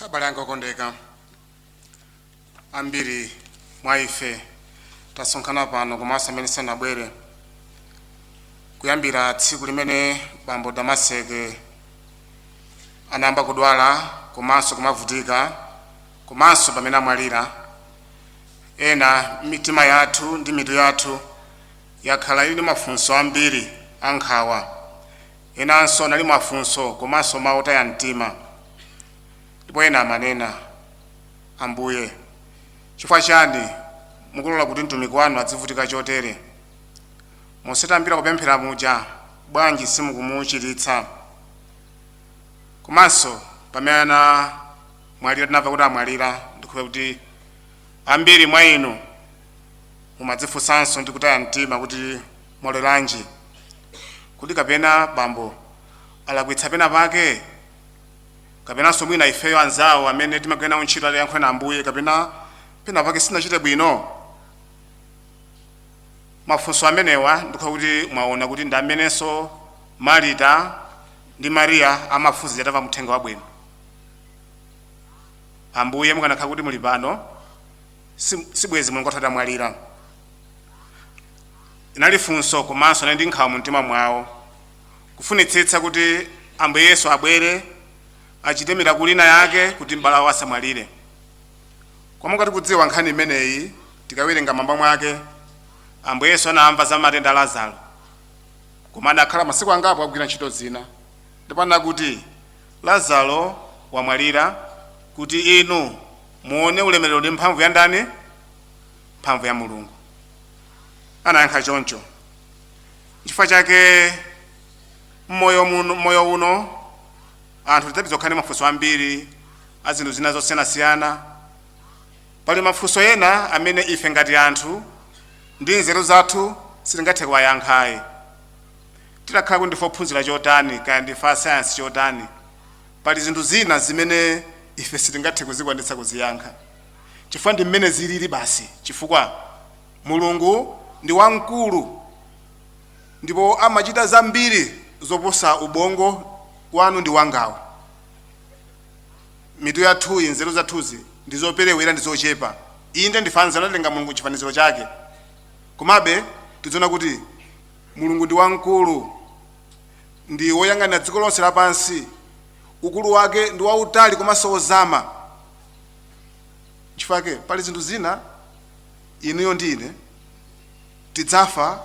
abale anga okondeka ambiri mwa ife tasonkhana pano komanso amene sanabwere kuyambira tsiku limene bambo damaseke anayamba kudwala komanso kumavutika komanso pamene amwalira ena mitima yathu ndi mitu yathu yakhala ili ndi mafunso ambiri ankhawa Enanso anali mafunso komanso mawu otaya mtima, ndipo ena amanena, Ambuye, chifukwa chiyani mukulola kuti mtumiki wanu adzivutika chotere? Monse tayambira kupemphera muja, bwanji simukumuchiritsa? Komanso pamene anamwalira, tinamva kuti amwalira, ndikhulupira kuti ambiri mwa inu mumadzifunsanso ndi kutaya mtima kuti, mwaloleranji? Kodi kapena bambo alakwitsa pena pake? Kapenanso mwina ifeyo anzawo amene timagwira nawo ntchito atayankhulana Ambuye kapena pena pake sitinachite bwino? Mafunso amenewa ndikhulupira kuti mwaona kuti ndi amenenso Marita ndi Maria amafunsa atamva mthenga wabwino. Ambuye mukanakhala kuti muli pano, sibwezi mlongo wathu atamwalira inali funso komanso anali ndi nkhawa mu mtima mwawo kufunitsitsa kuti ambuye yesu abwere achite mirakuli ina yake kuti m'bale wawo asamwalire koma ngati tikudziwa nkhani imeneyi tikawerenga m'mwamba mwake ambuye yesu anamva za matenda a lazaro koma adakhala masiku angapo akugwira ntchito zina ndipo anakuti lazaro wamwalira kuti inu Muone ulemerero ndi mphamvu ya ndani? Mphamvu ya Mulungu. Anayankha choncho. Chifukwa chake m'moyo uno anthu tidzapitiriza kukhala ndi mafunso ambiri a zinthu zina zosiyanasiyana. Pali mafunso ena amene ife ngati anthu ndi nzeru zathu sitingathe kuwayankhayi. Titakhala kuti ndife ophunzira chotani, kaya ndife asayansi chotani, Pali zinthu zina zimene ife sitingathe kuzikwanitsa kuziyankha, chifukwa ndi mmene ziliri basi, chifukwa Mulungu ndi wamkulu ndipo amachita zambiri zoposa ubongo wanu ndi wangawu, mitu yathuyi, nzeru zathuzi, ndi zoperewera ndi zochepa. Inde, ndife anzeru, anatilenga Mulungu m'chifaniziro chake, komabe tidziona kuti Mulungu ndi wamkulu. ndi woyang'anira dziko lonse lapansi, ukulu wake ndi wautali komanso wozama. Chifukwa chake pali zinthu zina inuyo ndi ine tidzafa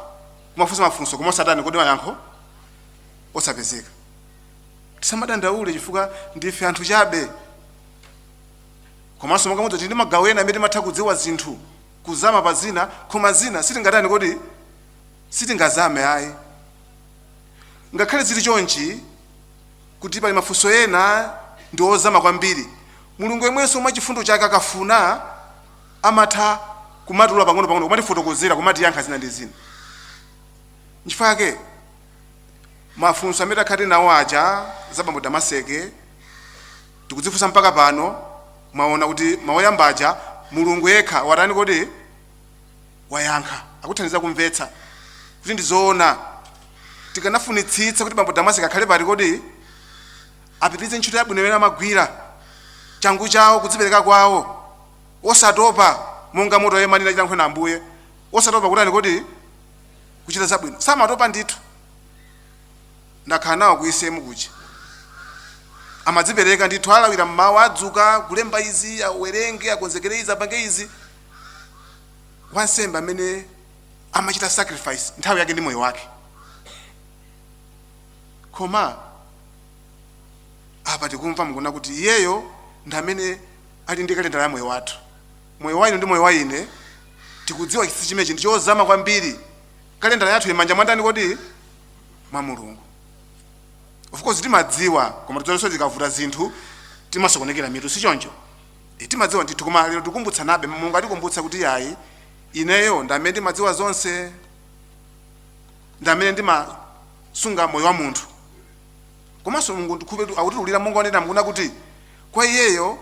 kumafunsa mafunso koma osatani kodi mayankho osapezeka. Tisamadandaule chifukwa ndife anthu chabe. Komanso monga mudziwa tili ndi magawo ena amene timatha kudziwa zinthu kuzama pa zina koma zina sitingatani kodi sitingazame ayi. Ngakhale zili chonchi, kuti pali mafunso ena ndi ozama kwambiri, Mulungu yemwenso mwa chifundo chake akafuna amatha kumatulula pang'onopang'ono, kumatifotokozera, kumatiyankha zina ndi zina. Nchifukwa chake mafunso amene takhala tili nawo aja za Bambo Damaseke tikudzifunsa mpaka pano. Mwaona kuti mawu oyamba aja Mulungu yekha watani kodi? wayankha akuthandiza kumvetsa kuti ndi zoona tikanafunitsitsa kuti bambo damaseke akhale pati kodi apitirize ntchito yabwino imene amagwira changu chawo kudzipereka kwawo osatopa monga moto yemanira chilankhula ambuye osatopa kutani kodi kuchita zabwino samatopa ndithu ndakhala nawo ku ecm kuchi amadzipereka ndithu alawira mmawa adzuka kulemba izi awerenge akonzekere izi apange izi wansembe amene amachita sacrifice nthawi yake ndi moyo wake koma apa tikumva nkuona kuti iyeyo ndi amene ali ndi kalendala ya moyo wathu moyo wa inuyo ndi moyo wa ine tikudziwa chinsinsi chimenechi ndi chozama kwambiri kalendala yathu ili mmanja mwa ndani kodi mwa mulungu of course timadziwa koma tidziwanso zikavuta zinthu timasokonekera mitu si choncho E, timadziwa ndithu koma lero tikumbutsanabe mulungu akutikumbutsa kuti yayi ineyo ndi amene ndimadziwa zonse ndi amene ndimasunga moyo wa munthu komanso mulungu ndikhulupirira kuti akutiulira monga onena mukuna kuti kwa iyeyo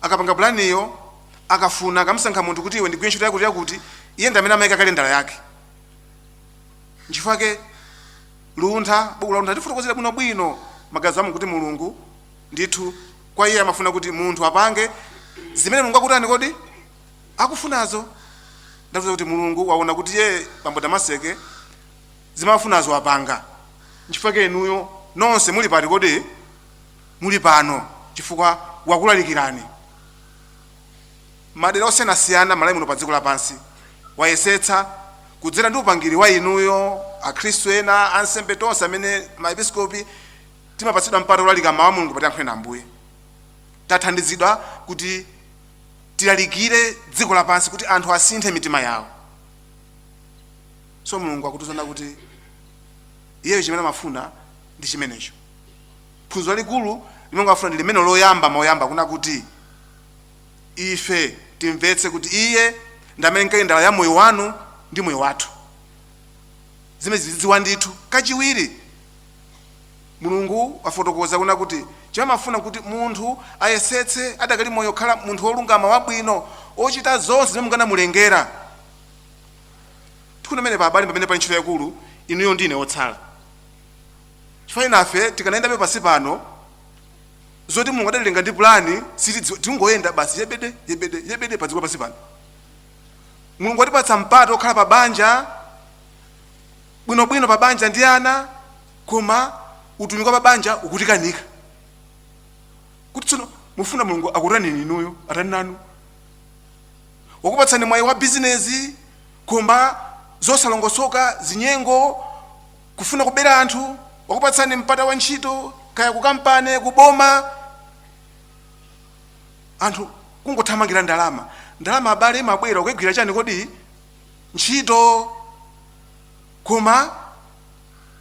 akapanga pulaniyo akafuna akamusankha munthu kuti iwe undigwirire ntchito yakuti yakuti iye ndi amene amayika kalendala yake nchifukwa chake luntha buku la luntha likutifotokozera bwinobwino magazi amu kuti mulungu ndithu kwa iye amafuna kuti munthu apange zimene mulungu akutani kodi akufunazo ndiye zoti mulungu waona kuti iye bambo damaseke zimafunazo wapanga nchifukwa chake inuyo nonse muli pati kodi muli pano chifukwa wakulalikirani madera osiyanasiyana malawi muno pa dziko lapansi wayesetsa kudzera ndi upangiri wa inuyo akhristu ena ansembe tonse amene maepiskopi timapatsidwa mpata wolalika mawu a mulungu pa tiyankhule nawo ambuye tathandizidwa kuti tilalikire dziko lapansi kuti anthu asinthe mitima yawo so mulungu akutiuza pano kuti iyeyo chimene amafuna ndi chimenecho phunziro lalikulu limene akufuna ndi limeneli loyamba mawu oyamba kunena kuti ife timvetse kuti iye ndi amene ndi kalendala ya moyo wanu ndi moyo wathu zimenezi tidziwe ndithu kachiwiri Mulungu wafotokoza kunena kuti chimene amafuna kuti munthu ayesetse adakali moyo kukhala munthu wolungama wabwino ochita zonse zimene Mulungu anamulengera. Tikunena pamenepa abale pamenepa pali ntchito yaikulu inuyo ndine otsala. Chifukwa enafe tikanayendabe pansi pano zoti Mulungu adatilenga ndi plani sitidziwa tingoyenda basi yebede yebede yebede padziko pansi pano. Mulungu atipatsa mpata okhala pa banja bwinobwino pa banja ndi ana koma utumiki wa pa banja ukutikanika kuti tsono mufuna mulungu akutani inuyo atani nanu wakupatsani mwayi wa bizinesi koma zosalongosoka zinyengo kufuna kubera anthu wakupatsani mpata wa ntchito kaya kukampani kuboma anthu kungothamangira ndalama ndalama abale imabwera ukagwira chani kodi ntchito koma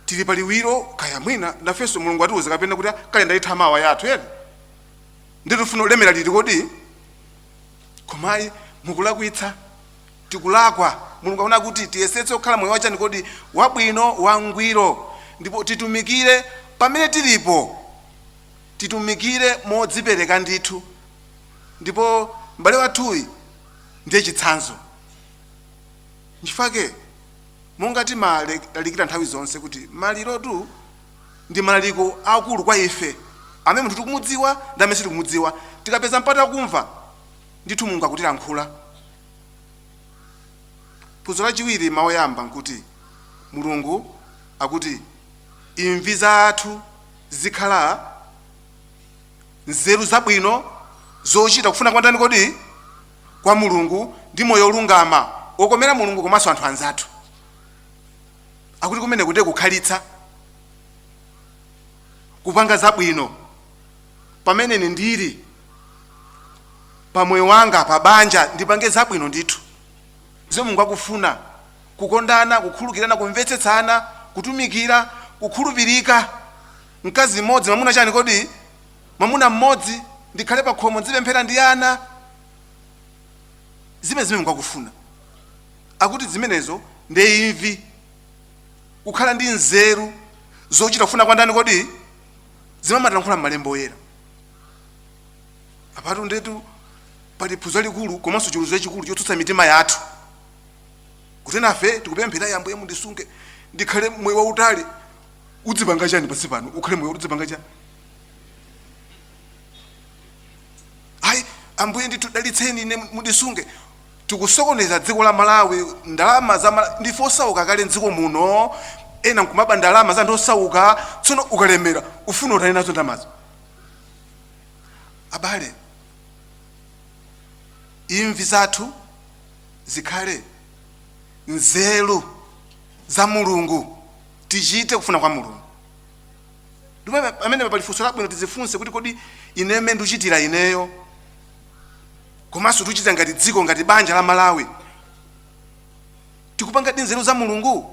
tili pa liwiro kaya mwina nafenso mulungu atiuza kapena kuti kalendala itha mawa yathu ena ndithu tifuna kulemera liti kodi koma ayi mukulakwitsa tikulakwa mulungu akufuna kuti tiyesetse kukhala moyo wachani kodi wabwino wangwiro ndipo titumikire pamene tilipo titumikire modzipereka ndithu ndipo m'bale wathuyi ndiye chitsanzo nchifake monga timalalikira nthawi zonse kuti malirotu ndi malaliko akulu kwa ife amene munthu tikumudziwa ndi amene sitikumudziwa tikapeza mpata wakumva ndithu mulungu akutilankhula phunziro lachiwiri mawu oyamba nkuti mulungu akuti imvi zathu zikhala nzeru zabwino zochita kufuna kwa ndani kodi kwa Mulungu ndi moyo wolungama okomera Mulungu komanso anthu anzathu. Akuti kumeneku ndiye kukhalitsa, kupanga zabwino pamene ine ndili pa moyo wanga pa banja ndipange zabwino ndithu zomwe Mulungu akufuna, kukondana, kukhulukirana, kumvetsetsana, kutumikira, kukhulupirika. Mkazi mmodzi, mwamuna chani kodi? mwamuna mmodzi, ndikhale pa khomo, ndzipemphera ndi ana, zimene Mulungu akufuna. Akuti zimenezo ndi imvi, kukhala ndi nzeru zochita kufuna kwa ndani? Kodi zimamatilankhula m'malembo oyera apatu ndetu pali phunziro likulu komanso chiweruzo chachikulu chotsutsa mitima yathu kuti nafe tikupemphera ya Ambuye mundisunge ndikhale moyo wautali udzipanga chani pansi pano ukhale moyo udzipanga chani ayi ambuye ndithu dalitseni ine mundisunge tikusokoneza dziko la malawi ndalama za Mala- ndife osauka kale mdziko muno ena nkumaba ndalama za anthu osauka tsono ukalemera ufuna utani nazo ndalamazo abale imvi zathu zikhale nzeru za mulungu tichite kufuna kwa mulungu ndipo pa- pamenepa pali funso labwino tidzifunse kuti kodi ineyo mmene ndikuchitira ineyo komanso tikuchita ngati dziko ngati banja la malawi tikupanga ndi nzeru za mulungu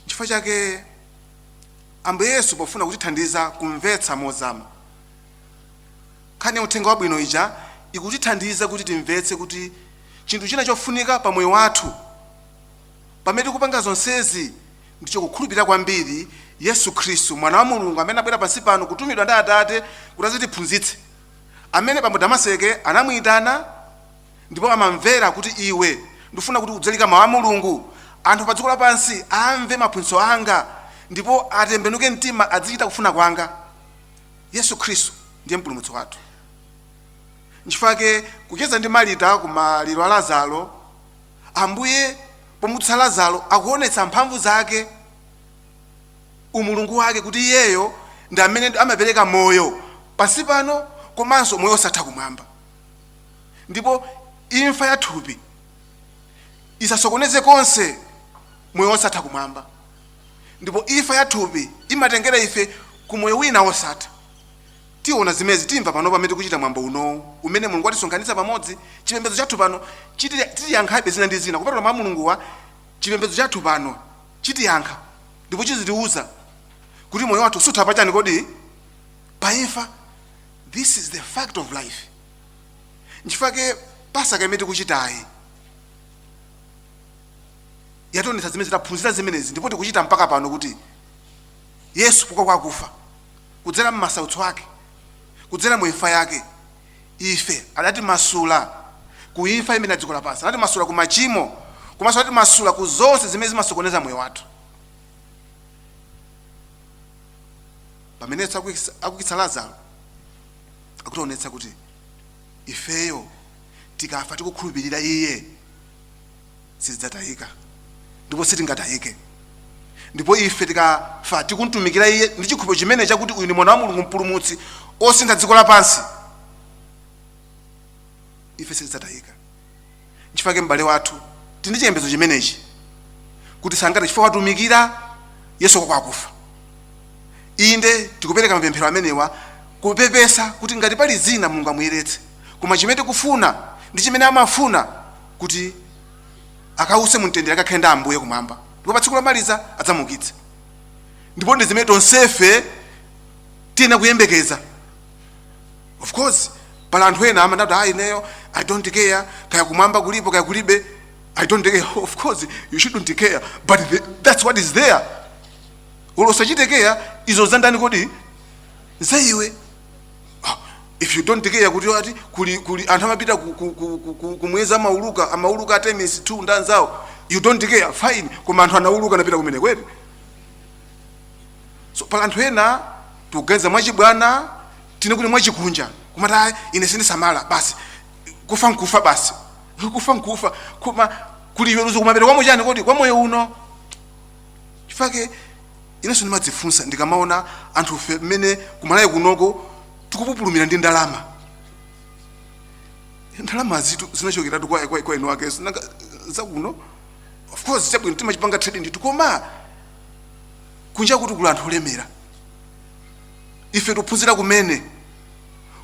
chifukwa chake ambuye yesu pofuna kutithandiza kumvetsa mozama nkhani ya uthenga wabwino ija ikutithandiza kuti timvetse kuti chinthu china chofunika pa moyo wathu Pamene tikupanga zonsezi, ndicho kukhulupirira kwambiri Yesu Khristu, Mwana wa Mulungu amene anabwera pansi pano kutumidwa ndi Atate kuti adzatiphunzitse, amene bambo Damaseke anamuitana ndipo amamvera kuti iwe, ndikufuna kuti udzalalika Mau a Mulungu, anthu padziko lapansi amve maphunzitso anga ndipo atembenuke mtima adzichita kufuna kwanga. Yesu Khristu ndiye Mpulumutsi wathu. Nchifukwa chake kucheza ndi Marita ku maliro a Lazaro, Ambuye pomutsa Lazaro akuonetsa mphamvu zake, umulungu wake kuti iyeyo ndi amene amapereka moyo pansi pano komanso moyo osatha kumwamba. Ndipo imfa ya thupi isasokoneze konse moyo osatha kumwamba. Ndipo imfa ya thupi imatengera ife ku moyo wina wosatha. Tiona zimenezi timva pano pamene tikuchita mwambo unowu umene Mulungu watisonkhanitsa pamodzi. Chipembedzo chathu pano chiti titiyankhabe zina ndi zina kupatula mau a Mulunguwa chipembedzo chathu pano chitiyankha ndipo chizitiuza kuti moyo wathu sutha pachani kodi? Pa imfa. This is the fact of life. Nchifukwa chake Pasaka imene tikuchitayi yationetsa zimene taphunzira zimenezi ndipo tikuchita mpaka pano kuti Yesu wauka kwakufa kudzera m'masautso ake, kudzera mu imfa yake, ife adatimasula ku imfa imene ya dziko lapansi, anatimasula ku machimo, komanso anatimasula ku zonse zimene zimasokoneza moyo wathu. Pamene Yesu akuikisa- akuukitsa Lazaro, akutionetsa kuti ifeyo tikafa tikukhulupirira iye sitidzatayika ndipo sitingatayike ndipo ife tikafa tikumtumikira iye ndi chikhulupiriro chimene chakuti uyu ndi mwana wa mulungu mpulumutsi osintha dziko lapansi ife sitidzatayika nchifukwa chake m'bale wathu tili ndi chiyembekezo chimenechi kuti sangati chifukwa watumikira yesu kwa akufa inde tikupereka mapemphero amenewa kupepesa kuti ngati pali zina mulungu amuyeretse koma chimene tikufuna ndi chimene amafuna kuti akause mumtendere akakhale ndi ambuye kumwamba ndipo pa tsiku lomaliza adzamuukitse ndipo ndi zimene tonsefe tiyenera kuyembekeza of course pali anthu ena amati ayi ineyo i don't care kaya kumwamba kulipo kaya kulibe i don't care of course you shouldn't care but the, that's what is there olo usachite care izo za ndani kodi za iwe if you don't care kuti ati kuli kuli anthu amapita ku- ku- ku- ku- ku- kumwezi amauluka amauluka Artemis 2 ndi anzawo you don't care fine koma anthu anauluka anapita kumene kwete so pali anthu ena tikuganiza mwachibwana tinene kuti mwachikunja kumati "Ayi, ine sindisamala basi kufa nkufa basi kufa nkufa koma kuli chiweruzo kumapeto kwa moyo chani kodi kwa moyo uno chifake inenso ndimadzifunsa ndikamaona anthufe mmene ku malawi kunoko tikupupulumira ndi ndalama ndalama zitu zinachokeratu kwa kwa- kwa winawake si nanga zakuno of course chabwino timachipanga trading nditu koma kunja kuti kuli anthu olemera ife tikuphunzira kumene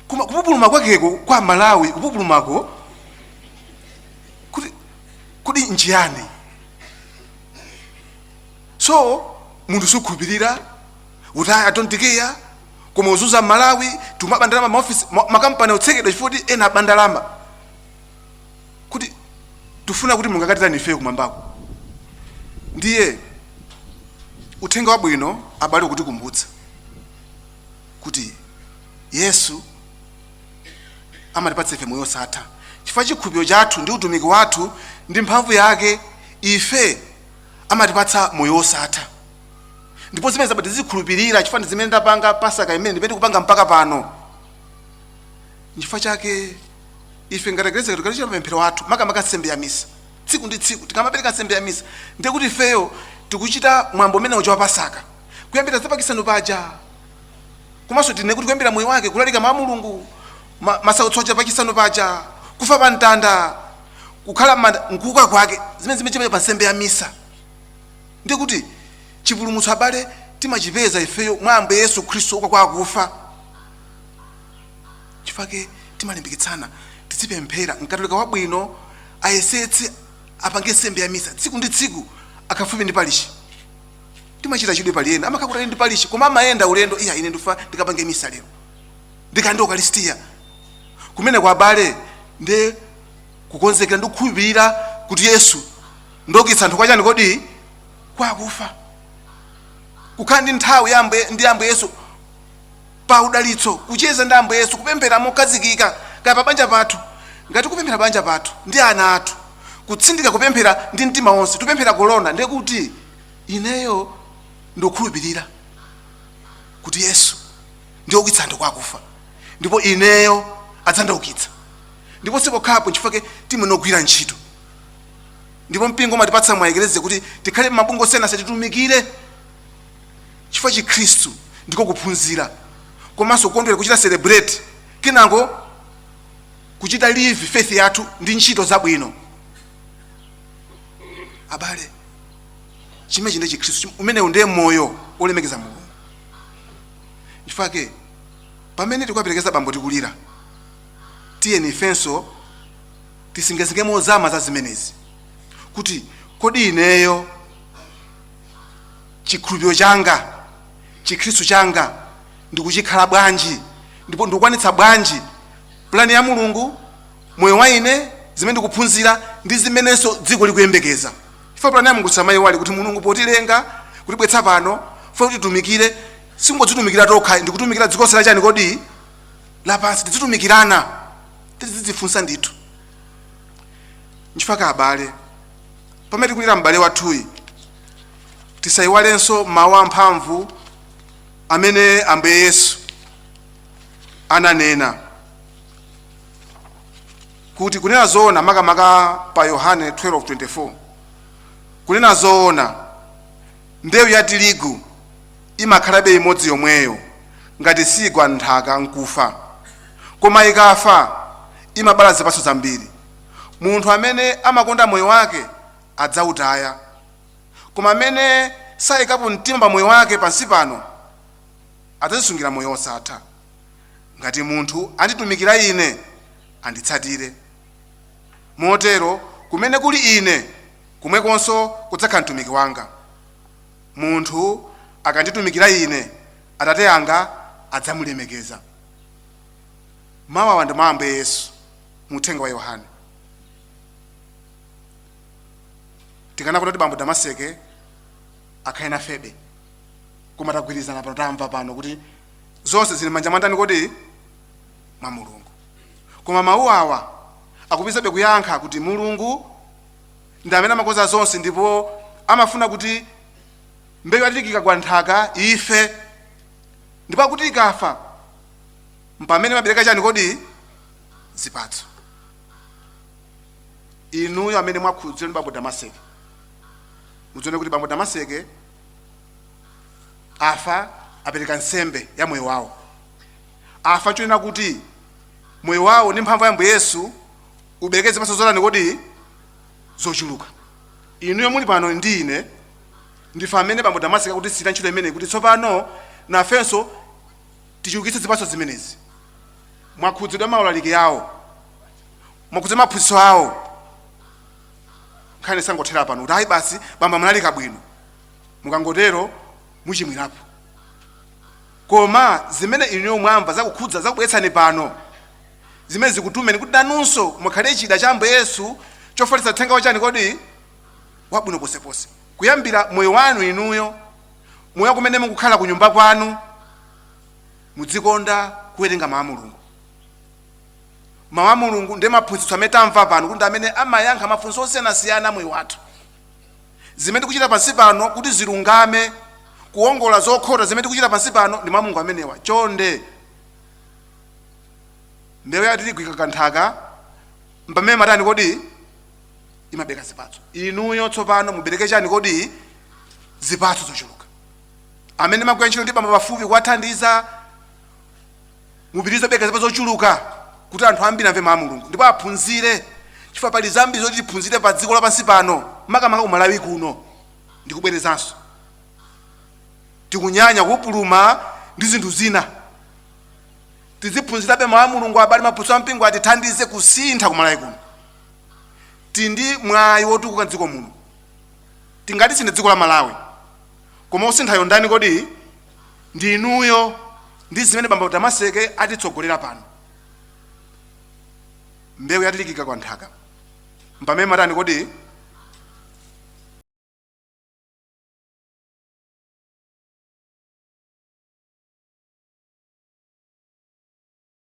koma kupupuluma kwakeko kwa malawi kupupulumako kuti kodi nchiyani so munthu sukhulupirira utaya tontikiya koma kuzunza malawi timaba ndalama maofisi ma- makampani otsekedwa chifukwa kuti ena aba ndalama kuti tifuna kuti mulungu akatitani ifeyo kumwambako ndiye uthenga wabwino abale ukutikumbutsa kuti yesu amatipatsa ife moyo osatha chifukwa chikhulupiriro chathu ndi utumiki wathu ndi mphamvu yake ife amatipatsa moyo osatha ndipo zimene abale tizikhulupirira chifukwa ndi zimene ndapanga pasaka imene ndimene kupanga mpaka pano nchifukwa chake ife ngati eklezia tikamachita mapemphero athu makamaka nsembe ya misa tsiku ndi tsiku tikamapereka nsembe ya misa ndiye kuti ifeyo tikuchita mwambo umene uja wa pasaka kuyambira za pa chisanu paja komanso tinene kuti kuyambira moyo wake kulalika mawu a mulungu ma- masautso aja pachisanu paja kufa pa mtanda kukhala m'manda nkuuka kwake zimene zimene pa nsembe ya misa ndiye kuti chipulumutso abale timachipeza ifeyo mwa ambuye yesu khristu wouka kwa akufa nchifukwa chake timalimbikitsana tizipemphera mkatolika wabwino ayesetse apange nsembe ya misa tsiku ndi tsiku akakhala pafupi ndi parishi timachita chidwi pali ena amakhala kutali ndi palishi koma amayenda ulendo iya ine ndifuna ndikapange misa lero ndikalandire ukalisitiya kumene ko abale ndi kukonzekera ndi kukhulupirira kuti yesu ndi woukitsa anthu kwachani kodi kwa akufa kukhala ndi nthawi ya Ambuye- ndi ambuye yesu pa udalitso, kucheza ndi Ambuye Yesu, kupemphera mokhazikika, kaya pa banja pathu, ngati kupemphera pa banja pathu ndi ana athu, kutsindika kupemphera ndi mtima wonse, kupemphera kolona, ndiye kuti ineyo ndikukhulupirira kuti Yesu ndi woukitsa anthu kwa akufa, ndipo ineyo adzandiukitsa, ndipo sipokhapo nchifukwa timafuna kugwira ntchito ndipo mpingo umatipatsa mwachiyerekezo kuti tikhale mabungwe osiyanasiyana titumikire chifukwa chikhristu ndiko kuphunzira komanso kukondwera kuchita celebrate kenako kuchita live faith yathu ndi ntchito zabwino abale chimenechi ndiye chikhristu umenewu ndiye moyo wolemekeza mulungu nchifukwa chake pamene tikuwaperekeza bambo tikulira tiyeni ifenso tisinkhesinkhe mozama za zimenezi kuti kodi ineyo chikhulupiriro changa chikhristu changa ndikuchikhala bwanji ndipo ndikukwanitsa bwanji pulani ya mulungu moyo wa ine zimene ndikuphunzira ndi zimenenso dziko likuyembekeza ife pulani ya mulungu tisamayiwale kuti mulungu potilenga kutibweretsa pano amafuna kuti titumikire sikungodzitumikira tokha ndikutumikira dziko lonse lachani kodi lapansi tidzitumikirana tidzidzifunsa ndithu nchifukwa abale pamene tikulira m'bale wathuyi tisayiwalenso mawu amphamvu amene ambuye yesu ananena kuti kunena zoona makamaka pa yohane 12:24 kunena zoona mbewu ya tirigu imakhalabe imodzi yomweyo ngati siigwa m'nthaka nkufa koma ikafa imabala zipatso zambiri Munthu amene amakonda moyo wake adzautaya, koma amene saikapo mtima pa moyo wake pansi pano adzadzisungira moyo wosatha. Ngati munthu anditumikira Ine, anditsatire. Motero kumene kuli Ine, komwekonso kudzakhala mtumiki wanga. Munthu akanditumikira Ine, Atate anga adzamulemekeza. Mawu awa ndi mawu a Ambuye Yesu. mu uthenga wa yohane tikanakonda kuti bambo damaseke akhale nafebe koma tagwirizana pano tamva pano kuti zonse zili m'manja mwa ndani kodi mwa mulungu koma mawu awa akupitirizabe kuyankha kuti mulungu ndi amene amakonza zonse ndipo amafuna kuti mbewu ya tirigu ikagwa m'nthaka ife ndipo akuti ikafa mpamene imabereka chani kodi zipatso inuyo amene mwakhudzidwa ndi bambo damaseke mudzione kuti bambo damaseke afa apereka nsembe ya moyo wawo afa chonena kuti moyo wawo ndi mphamvu ya ambuye yesu ubereke zipatso zotani kodi zochuluka inuyo muli pano ndi ine ndife amene bambo damaseke akutisiyira ntchito imeneyi kuti tsopano nafenso tichulukitse zipatso zimenezi mwakhudzidwa maulaliki awo mwakhudzidwa maphunzitso awo nkhani isangothera pano kuti ayi basi bambo amalalika bwino mukangotero muchimwirapo koma zimene inuyo mwamva zakukhudza zakubweretsani pano zimene zikutumeni kuti nanunso mukhale chida cha ambuye yesu chofalitsa uthenga wachani kodi wabwino ponseponse kuyambira moyo wanu inuyo moyo kumene mukukhala ku nyumba kwanu mudzikonda kuwerenga mawu a mulungu mawu a mulungu ndi maphunzitso amene tamva pano kuti ndi amene amayankha mafunso osiyanasiyana a moyo wathu zimene tikuchita pansi pano kuti zilungame kuongola zokhota zimene tikuchita pansi pano ndi mawu a mulungu amenewa chonde mbewu ya tirigu ikagwa m'nthaka mpamene imatani kodi imabereka zipatso inuyo tsopano mubereke chani kodi zipatso zochuluka amene mumagwira ntchito ndi bambo pafupi kuwathandiza mupitirize kubereka zipatso zochuluka kuti anthu ambiri amve mawu a mulungu ndipo aphunzire chifukwa pali zambiri zoti tiphunzire pa dziko lapansi pano makamaka kumalawi kuno ndikubwerezanso tikunyanya kupupuluma ndi zinthu zina tiziphunzirabe mawu a mulungu abale maphunzitso a mpingo atithandize kusintha kumalawi kuno tili ndi mwayi wotukuka mdziko muno tingatisinthe dziko la malawi koma osinthayo ndani kodi ndi inuyo ndi zimene bambo Damaseke atitsogolera pano mbewu ya tirigu ikagwa nthaka mpamene imatani kodi